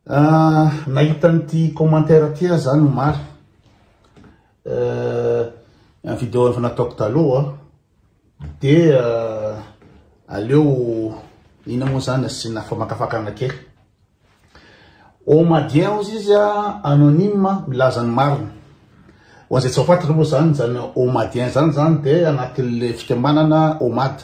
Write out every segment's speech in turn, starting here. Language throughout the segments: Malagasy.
Ah, nahita an'ity commentaire ty aho zany omaly. Euh, un vidéo efa nataoko taloha de euh, aleo ina moa zany asiana famakafakana kely. Omadien ozy izy a anonyme milaza ny marina. Ho an'izay tsy ao faty aloha zany zany omadien zany zany de anatin'le fikambanana omad.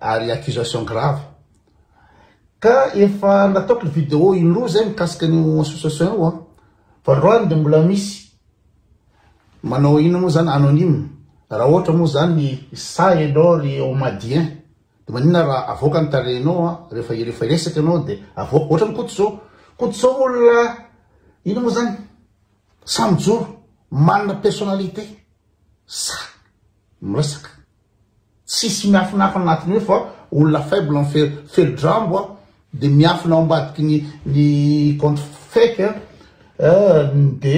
ary accusation grave ka efa nataoko ny vidéo indroa zay mikasika an'io association io an voalohany dia mbola misy manao inona moa zany anonyme raha ohatra moa zany sa ianao ry omadien dia maninona raha avoaka ny tarehinao an rehefa rehefa hiresaka ianao dia avoaka ohatra ny koto zao koto zao olona inona moa zany samy joro manana personnalité sa miresaka Tsisy miafinafina anatiny eo fa olona faible an felodrambo an de miafina ao ambadiky ny ny compte fake an de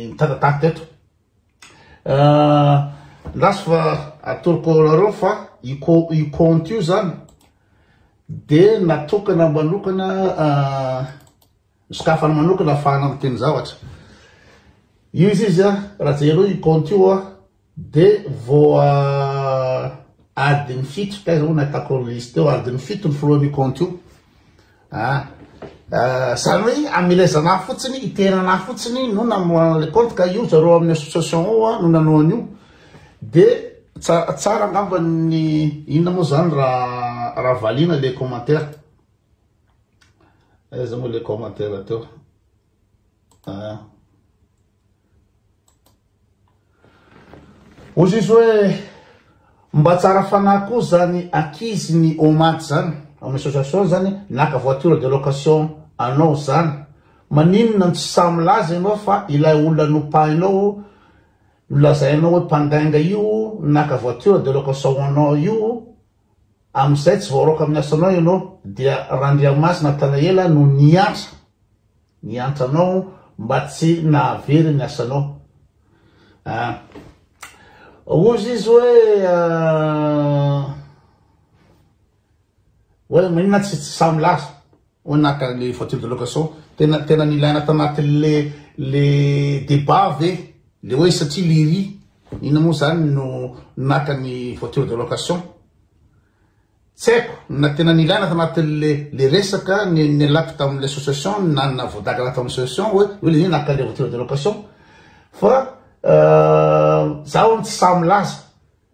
mitatatat eto ndraso fa atoroko anareo fa io compte io zany de natokana manokana Misokafany manokana afahana miteny zavatra io izy izy a raha jereo io compte io a de voa adiny fito taiza moa nahitako liste eo adiny fito ny filohan'io compte io a zany hoe amelezana ahy fotsiny iterana ahy fotsiny no namoahana le compte ka io zareo amin'ny association ao a no nanao an'io de tsara angamba ny inona moa zany raha raha valiana le commentaire Aiza moa le commentaire teo? Ah. Ozy izy hoe mba tsara fanahy koa zany akizy ny omaty zany amin'ny association zany naka voiture de location anao zany maninona no tsy sahy milaza ianao fa ilay olona nopahinao nolazainao hoe mpandainga io naka voiture de location anao io Amin'izay tsy voaraoka amin'ny asanao ianao, dia Randriamasina Natanaela no niantra niantra anao mba tsy nahavery ny asanao. Ah, hozy izy hoe, ah, hoe maninona tsy tsy samy lasa. Hoy naka le voiture de location tena tena nilaina tanatin le le debat ve le hoe satria lery ina moa zany no naka ny voiture de location tsy haiko na tena nilaina tanatin le le resaka ny nilako tamin'le association na na voadagana tamin'ny association hoe hoe le naka le voiture de location fa zaho tsy sahy milaza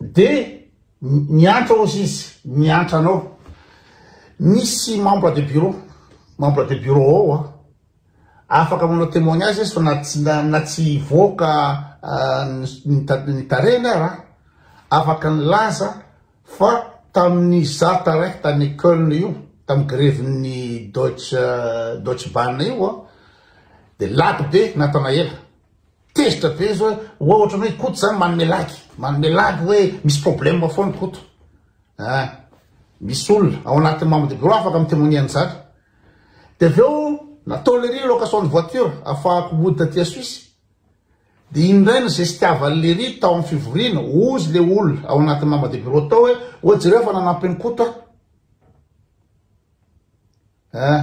De miantra ozy izy miantra anao misy membre de bureau membre de bureau ao a afaka manao témoignage izy fa na tsy na tsy hivoaka ny tarehiny ara afaka nilaza fa tamin'ny zata raiky tany Köln io tamin'ny grevin'ny Deutsche Deutsche Bahn io a de lagy be natana ela Tezitra be zao hoe ohatran'ny hoe Koto zany manome lagy, manome lagy hoe misy problème foana Koto. Ah, misy olona ao anatin'ny membre de bureau afaka mi-témoigner an'izany. Dia avy eo nataon'ilay ry location de voiture afahako mody taty à Suisse. Dia iny indray ny zestiavan'ilay ry tao amin'ny fivoriana, ozy ilay olona ao anatin'ny membre de bureau tao hoe oa jereo fa nanampy an'i Koto aho. Ah.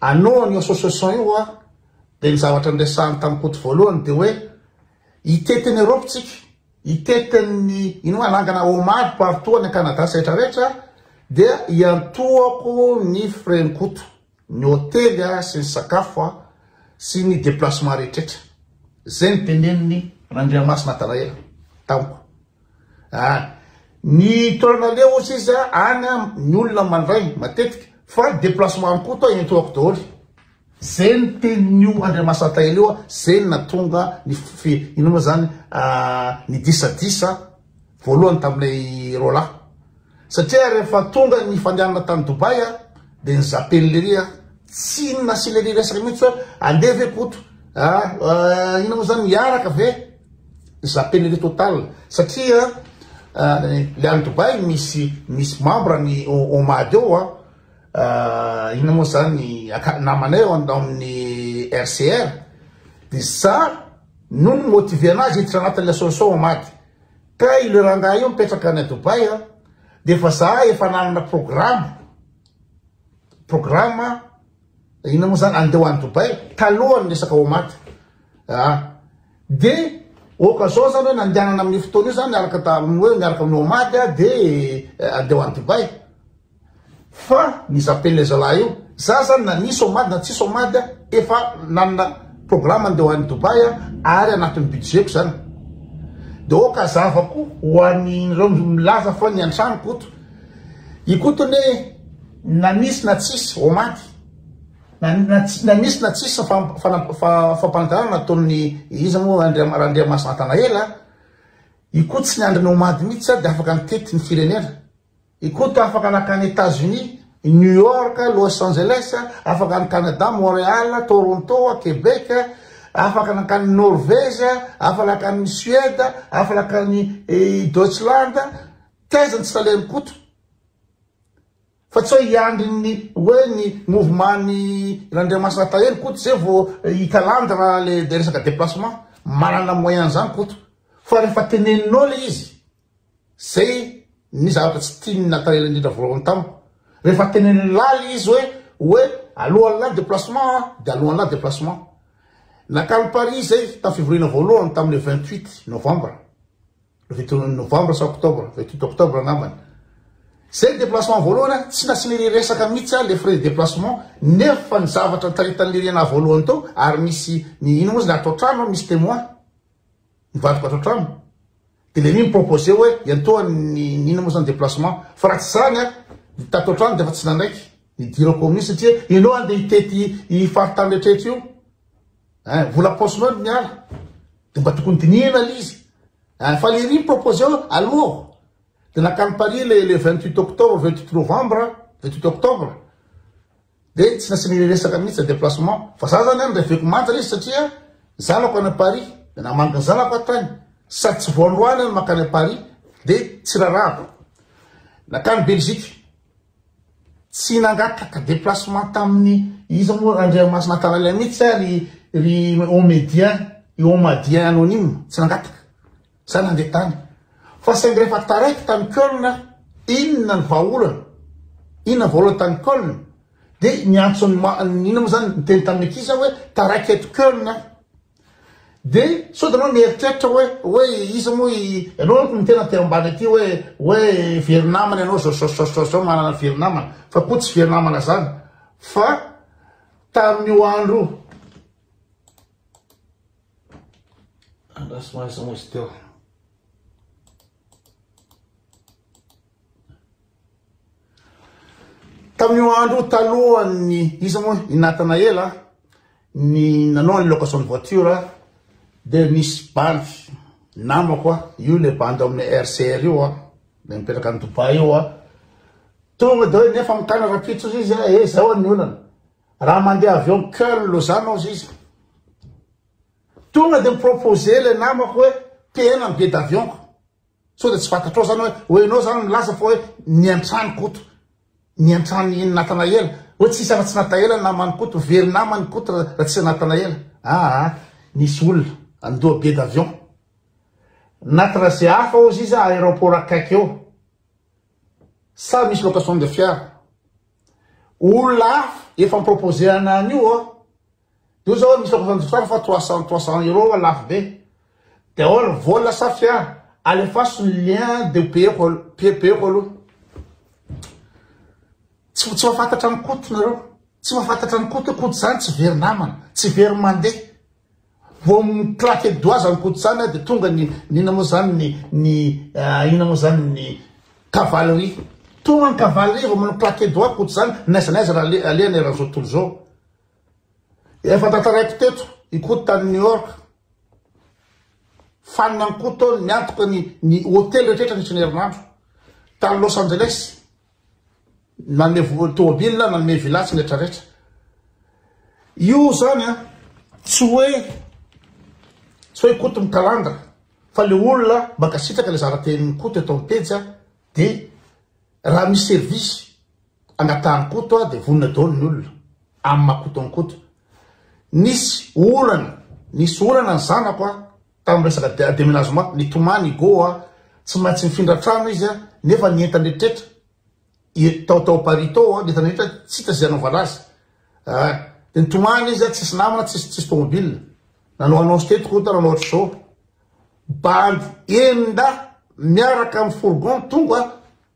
Anao an'io association io hoa dia ny zavatra niresahany tamin'i Koto voalohany dia hoe hitety an'i Europe tsika, hitety an'i ino moa hanangana hommage partout any Canada sy rehetra rehetra dia hiantohako ny frais-n'i Koto, ny hotely sy ny sakafo sy ny déplacement rehetra rehetra. Izay no tenenin'i Randriamasina Atalaela tamiko. Ah, ny toerana leo ohatry izy any an, ny olona mandray matetika, fa ny déplacement koa toa entoako daholo. Zay ny tenin'io Andriamasantahelo io, zay ny natonga ny fi, inona moa zany, ah, ny disadisa voalohany tamin'ilay roalahy. Satria rehefa tonga ny fandehanana tany Dubai a, dia ny zapen'i Lery a, tsy inona sy Lery resaka mihitsy hoe andeha ve Koto a, eh, inona moa zany, hiaraka ve? Zapen'i Lery total, satria le any Dubai misy misy membre ny OMAD eo a, eh, inona moa zany, aka- namanay ao an- ao amin'ny RCR, dia za no ni-motiver anazy hiditra anatin'ilay solution OMAD. Ka io le rangahy io mipetraka any Dubaï a, dia efa za efa nanana programa, programa inona moa zany andeha ho any Dubaï talohan'ny resaka OMAD a, dia occasion zany hoe nandehanana amin'io fotoana io zany araka tamin'ny hoe miaraka amin'ny OMAD a dia andeha ho any Dubaï. Fa ny zapen'ilay zalahy io, za zany na nisy homady na tsisy homady efa nanana programme handeha ho any Dubaï aho ary anatin'ny budget-ko zany. Dia ok hazavako ho an'ireo milaza fa ny an-trano Koto. I Koto anie na nisy na tsisy homady, na nisy na tsisy fampanantenana nataon'ny iza moa Randriamasinatanaela, i Koto tsy niandry ny homady mihitsy dia afaka nitety ny firenena. Ikoto afaka nankany Etats Unis, New York, Los Angeles, afaka any Canada, Montreal, Toronto, Quebec, afaka nankany Norvège, afaka nankany Suède, afaka nankany eh, Deutschland, taiza ny tsy talehany Koto. Fa tsy hoe hiandry ny hoe ny mouvement ny Randriamasina Tahelo Koto zay vao hikalandra le resaka déplacement. Manana moyen zany Koto. Fa rehefa teneninao le izy, Zay ny zavatra tsy tian'ny Nathaniel indrindra voalohany tamiko. Rehefa tenenin'i Lali izy hoe, hoe alohan'ny lali déplacement an, dia alohan'ny lali déplacement. Nakany Paris izay tamin'ny fivoriana voalohany tamin'ny le 28 novembre, le 28 novembre sa octobre, 28 octobre angambany. Zay ny déplacement voalohany an, tsy nasiana iry resaka mihitsy an, le frais de déplacement, nefa ny zavatra nitaritan'i Lyriana voalohany teo, ary nisy, ny, ino moa izy le ato an-trano an, misy témoin. Mivarotra ato an-trano. Dia ilay mi mi-proposer hoe iantoha ny inona moa izany déplacement. Fa raha tsy izany an, ny tato an-trano dia efa tsy nanaiky ny dirao kaominina satria ianao handeha hitety io faritany rehetra io. Ein, vola paosinao no miala. Dia mba tokony dinihina ilay izy. Ein, fa ilay mi mi-proposer hoe aloha. Dia nankany Paris ilay le 28 octobre, 28 novembre, 28 octobre. Dia tsy nasiany reresaka mihitsy na déplacement. Fa za zany an reveko manja izy satria ny zanako any Paris dia namangy ny zanako aho tany sady tsy vao androany aho no mankany Paris dia tsy rarahako. Nankany Belgique. Tsy nangataka déplacement tamin'ny iza moa Randriamasina Tanalia mihitsy ary ry Omedia, i Omadia anonyme, tsy nangataka. Zay nandeha tany. Fa saingy rehefa taraiky tany Köln aho, inona ny vahaolana? Inona ny vahaolana tany Köln? Dia niantso ny ma, inona moa zany, niteny tamin'ny ankizy aho hoe taraiky eto Köln aho. Dia sao dia ianao mieritreritra hoe, hoe iza moa i, ianao no niteny aty ambany aty hoe, hoe very namana ianao zao, zao, zao, zao, zao, manana very namana. Fa koa tsy very namana zany. Fa tamin'io andro io. Andraso maso moa izy teo. Tamin'io andro talohan'ny iza moa i Natanaela ny nanao ny location de voiture dia nisy bandy namako a io le bandy ao amin'ny RCR io a le mipetraka any Dubai io a tonga dia hoe nefa mikana rapitso izy a eh zao ny olana Raha mandeha avion Köln Lausanne ao ziza. Tonga dia mi-proposer ilay namako hoe tehena ny billet d'avion-ko. Sao dia tsy fantatrao izany hoe hoe ianao izany milaza fa hoe niantrano Koto. Niantrano i Natanaela. Hoe tsy hisy afa-tsy Nataela ny naman'i Koto. Very namana i Koto raha tsy Natanaela. Aa nisy olona nandoa billet d'avion. Na trajet hafa ao ziza aéroport akaiky eo. Sa misy location de fiara. Olona hafa efa mi-proposer ana an'io ô. Io zao misy efa fanjotsara fa trois cent trois cent euro fa lafo be. Dia ahoana ny vola sa fia? Alefaso ny lien dia payeko aloha, pay payeko aloha. Tsy tsy mahafantatra an'i Koto nareo. Tsy mahafantatra an'i Koto, Koto zany tsy very namana, tsy very mandeha. Vao mi claque doigts zany koto zany de tonga ny ny inona moa zany ny ny inona moa zany ny cavalerie tonga ny cavalerie vao manao claque doigts koto zany n'aiza n'aiza raha ale alehany raha zao tontolo zao efa tantaraiko teto i koto tany new york fanina ny koto tao niantoka ny ny hotely rehetra rehetra nisy ny herinandro tany los angeles Nanome vola tômôbila, nanome villa sy ny rehetra rehetra. Io zany a, tsy hoe tsy hoe Koto mikalandra fa le olona mankasitraka le zaratenin'i Koto eto amin'ny pejy a de raha misy service angatahan'i Koto a de vonona daholo ny olona amin'ny maha Koto an'i Koto. Nisy olana, nisy olana ny zanako a, tamin'ny resaka déménagement, nitomany i Goh, tsy maintsy nifindra trano izy nefa ny entany rehetra tao tao Paris tao, ny entany rehetra tsy hita izay hanaovana azy. Ah, dia nitomany izy, tsisy namana, tsisy tsisy tomobile. Nanao annonce teto koa nanao ohatr'izao. Bandy enin-dahy miaraka amin'ny fourgon tonga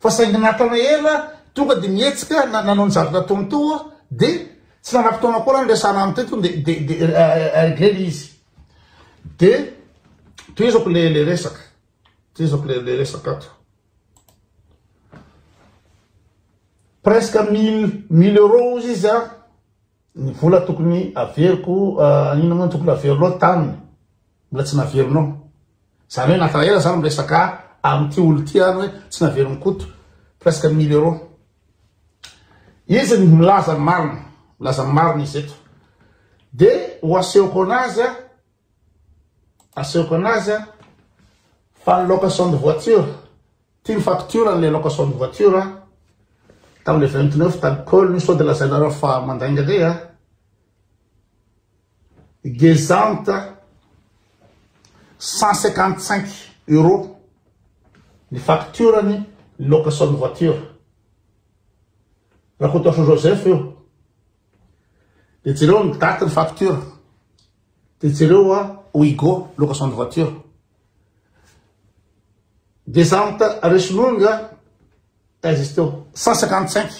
Fa saingy natana ela tonga dia mihetsika na nanao ny zavatra nataony teo aho dia tsy nana fotoana akory aho niresahana aminy teto dia dia dia regle ilay izy. Dia tohizako ilay ilay resaka. Tohizako ilay ilay resaka ato. Presque mille mille euros hozy izy a. Ny vola tokony averiko an ino moa no tokony avero loatra taminy mbola tsy naverinao zany hoe nata ela za miresaka amty olo ty any hoe tsy naveriny koto presque mille euro izy ny milaza ny marina milaza ny marina izy eto de ho asehoko anazy an Asehoko anazy a! Fa ny location de voiture, ty ny facture an'ilay location de voiture a! Tamin'ilay vingt neuf d'alcool io sao dia lazainareo fa mandainga indray a! Gezant a! Cent cinquante cinq euros ny facture-ny ny location de voiture. Rakotoarisoa Joseph io. Dia jereo ny date ny facture. Dia jereo hoa Oigo location de voiture descente reçu longue taiza izy teo cent cinquante cinq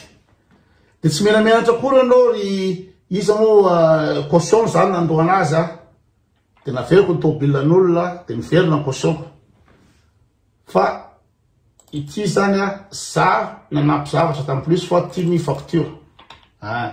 dia tsy menamenatra akory ianao ry iza moa euh, caution izany nandohana azy a dia naveriko ny tomobilan'olona dia miverina ny cautionko fa ity izany a za nanampy zavatra tamin'ny plus fa tiany facture a ah.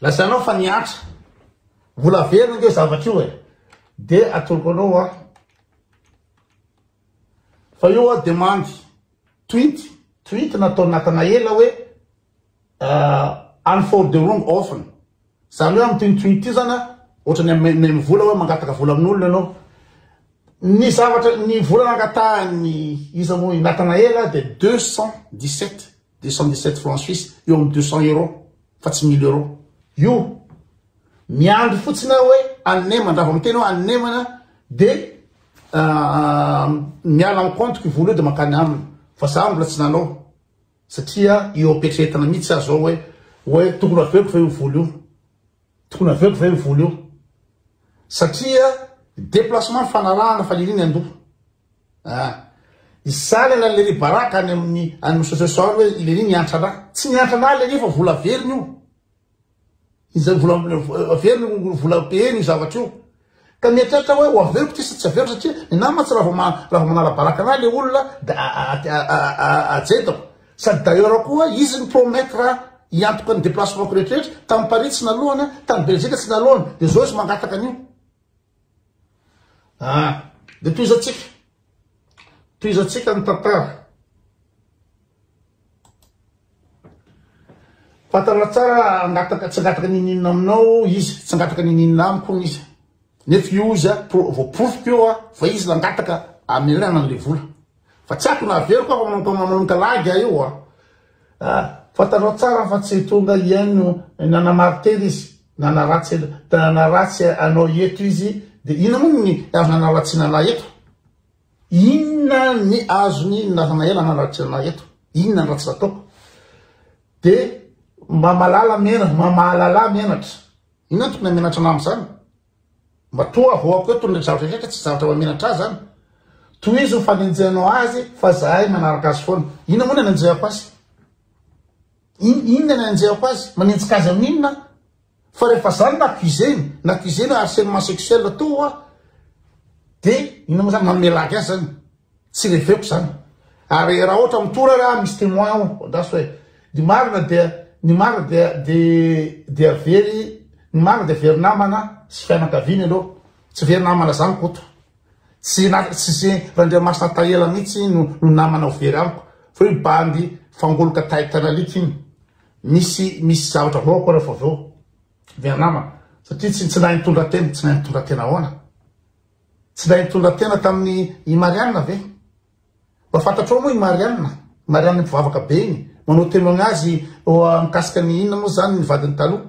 Lazainao fa nihatra. Mbola velona ange io zavatra io e. Dia atoloko anao hoa. Fa io hoa demandy tweet, tweet nataon'i Natanaela hoe any for the wrong often. Zany hoe amin'ity tweet ity zany ohatrany amin'ny vola hoe mangataka vola amin'olona ianao. Ny zavatra, ny vola nangatahan'ny iza moa i Natanaela dia 217. deux cent dix sept francs suisse eo amin'ny deux cent euros fa tsy mille euros io miandry fotsiny aho hoe anemana raha vao miteny hoe anemana de euh, miala amin'ny compte-ko i vola io de mankany aminy fa za mbola tsy nanao satria eo am-pietrehetana mihitsy aho zao hoe hoe tokony aveko ve io vola io tokony aveko ve io vola io satria déplacement ny fanarahana fa iriny an-doha Ah! Izany an'i Leri Baraka any amin'ny any Msososy ao hoe i Leri niantra anà. Tsy niantra anà Leri fa vola averiny io. Izay vola averiny io, vola payeny io zavatra io. Ka mieritreritra hoe ho averiko ty sa tsy averiko satria ny nahy mantsy raha vao raha vao manala baraka anà le olona dia ajedako. Sady d'ailleurs koa izy ni-promettre hiantoka ny déplacement-ko rehetrarehetra, tany Paris tsy naloany, tany Belzika tsy naloany, dia izao izy mangataka an'io. Ah! Dia tohizantsika, tohizantsika ny tantara. Fantatra tsara angataka, tsy angataka niniana aminao izy, tsy angataka niniana amiko hono izy. Nefa io izy, voaporofiko eo fa izy nangataka hamelana an'ilay vola. Fa tsy akona averiko aho fa manao mpamamonika lagy aho io a! Fantanao tsara fa tsy tonga iany no nanamarotera izy, nanaratsy nanaratsy anao eto izy de inona moa ny azo nanaratsiana anah eto? Inona ny azony nilazana ela nanaratsiana anah eto? Inona ny ratsy nataoko? De mba malala menatra, mba mahalala ahy menatra, inona ny tokony hamenatra anah amzany? Matoa avoako eto ny zavatra rehetra tsy zavatra mahamenatra azy an! Tohizo ny fanenjehanao azy fa zahay manaraka azy foana. Inona moa ny anenjehako azy? In, inona ny anenjehako azy? Manenjika azy amin'ny inona aho? Fa rehefa za no accusé-ny, n'accusé-ny hoe harcèlement sexuel toa, dia inona moa zany, manome lagy azy zany? Tsy reveko zany. Ary raha ohatra mitory ary aho misy témoin aho andraso hoe ny marina dia ny marina dia dia very ny marina dia very namana sy fianakaviana aloha. Tsy very namana zany Koto. Tsy tsy Randriamasina Tahela mihitsy no no namana ho very amiko fa io bandy fangoloka taitana alika iny. Misy misy zavatra vao akory avy eo. Very namana satria tsy tsy nahay nitondra tena, tsy nahay nitondra tena ahoana. Tsy ilay nitondra tena tamin'i i Marianne ve? Mba fantatrao moa i Marianne? I Marianne mpivavaka be iny, manao témoignage mikasika ny inona moa izany ny vadiny taloha.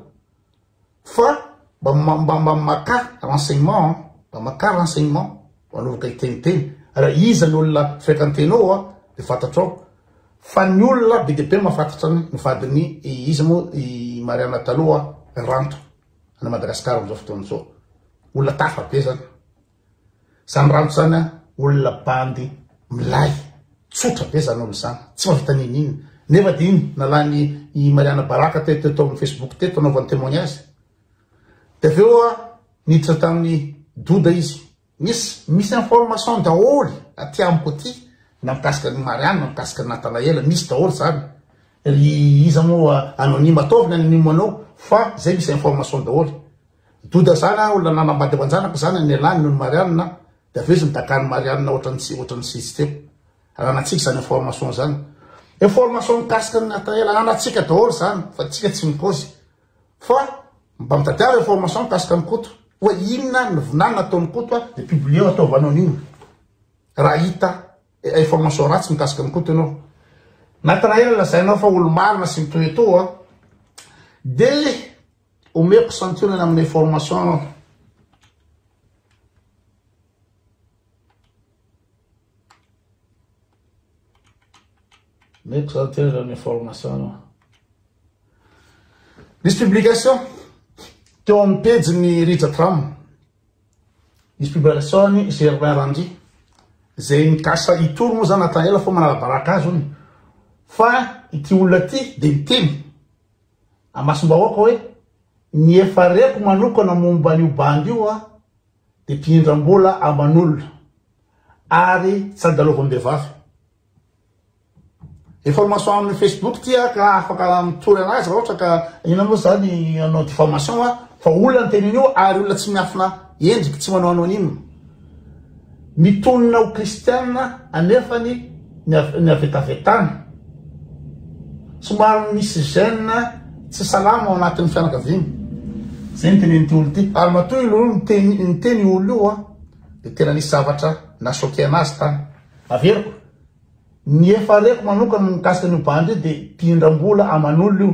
Fa mba mba mba makà renseignement an, mba makà renseignement, mba anaovaka hiteniteny. Raha iza ny olona fréquentenao an, dia fantatrao. Fa ny olona be dia be mahafantatra ny vadin'i iza moa i Marianne taloha, Ranto. Any Madagascar amzao fotoana zao. Olona tafa be zany. Zany ranto zany a olona bandy milay. Tsotra be zany olona zany. Tsy mavita ninin. Nefa dia iny nalany i Mariana Baraka teto teto amin'ny Facebook teto anaovany témoignage. Dia avy eo a niditra tamin'ny doda izy. Misy misy information daholo aty amiko aty na mikasika an'i Marianne na mikasika an'i Nathanaël misy daholo zany ry iza moa anonyme ataovy ny anonyme anao fa zay misy information daholo Doda zany an olona nanambady aman-janako zany ny elah nony Marianne de avy eo izy nidaka an'i Marianne ohatran'ny tsy ohatran'ny tsy izy teo ananatsika zany information zany information mikasika an'i Nathanaël ananatsika daholo zany fa tsika tsy mikaozy Fa mba mitadiava information mikasika an'i Koto hoe inona ny vinanina ataon'i Koto a dia publier-o ataovy anao ny inona raha hita information ratsy mikasika an'i Koto ianao. Natanaela lazainao fa olo-marina sy mitoetoa dia omeko santionany amin'ny information Meko zany tena zany information no. Nisy publication teo amin'ny pejy ny Rija Tram. Nisy publication ny Germain Randry. Zay mikasa hitory moa zany Nathanaela fa manalabaraka azy ony. Fa ity olona ity dia miteny amasim-bahoaka hoe ny efa reko manokana momba an'io bandy io a. Dia mpiindram-bola aman'olona ary tsy andalovam-behivavy. Information amin'ny Facebook ity ah, ka afaka mitory anazy raha ohatra ka inona moa izany hanao diffamation ah, fa olona ny tenin'io ary olona tsy miafina endriky, tsy manao anonyme. Mitonona ho kristiana anefany. ny havetavetana, somary misy gène tsy salama ao anatin'ny fianakaviana, zay ny tenenin'ity olona ity, ary matoa io olona io niteny io olona io dia tena nisy zavatra na choqué anazy tany, averiko, ny efa reko manokana mikasika an'io bandy io dia mpihindram-bola aman'olona io,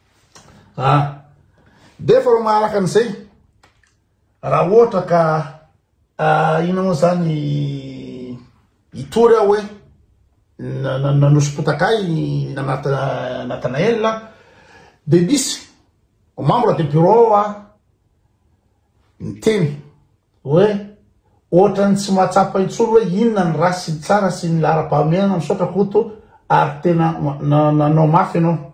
Ah! Dia efa manaraka an'izay, raha ohatra ka ah, inona moa izany hitory aho hoe nanosom-potaka ahy ny Natanael dia misy membre de bureau ah, niteny hoe ohatran'ny tsy mahatsapa intsony hoe inona ny ratsy sy ny tsara sy ny laharam-pahamehana misaotra Koto ary tena nanao mafy ianao.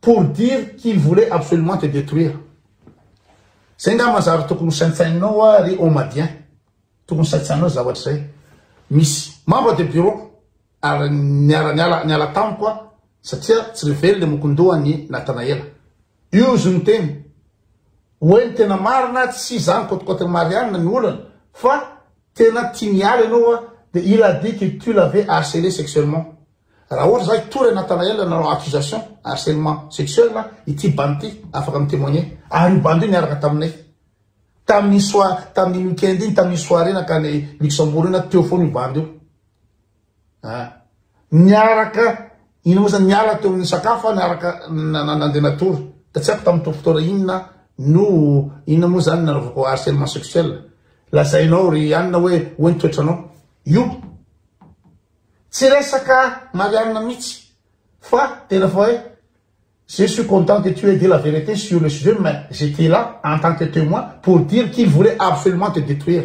pour dire qu'il voulait absolument te detruire. Zay ngamba ny zavatra tokony ho saintsaininao wa ry Omadien. Tokony saintsaininao zavatra zay. Misy membre de bureau ary niara niala niala tamiko a satria tsy ry velona i Mokondoha an'i Natanaela. Io izy no niteny hoe ny tena marina tsy zany côte côte-n'i Marianne ny olana fa Tena tia miala ianao hoa dia il a dit que tu l'avais harcelé sexuellement. Raha ohatra za hitory an'i Nathanaël nanao accusation harcèlement sexuel ity bandy ity afaka mi témoigner. Ary io bandy io niaraka taminay tamin'iny soir tamin'iny week-end iny tamin'iny soirée nankany Luxembourg iny aho teo foana io bandy io. Ah. Niaraka, ino moa zany, niala teo amin'ny sakafo ah niaraka nandeha natory. Ka tsy haiko tamin'ny fotoana inona no inona moa zany nanaovako harcèlement sexuel. Lazainao ry Anna hoe hoe ny toetranao. Io. Tsy resaka Marianne mihitsy. Fa tena fa hoe je suis content que tu aies dit la vérité sur le sujet mais j'étais là en tant que témoin pour dire qu'il voulait absolument te détruire.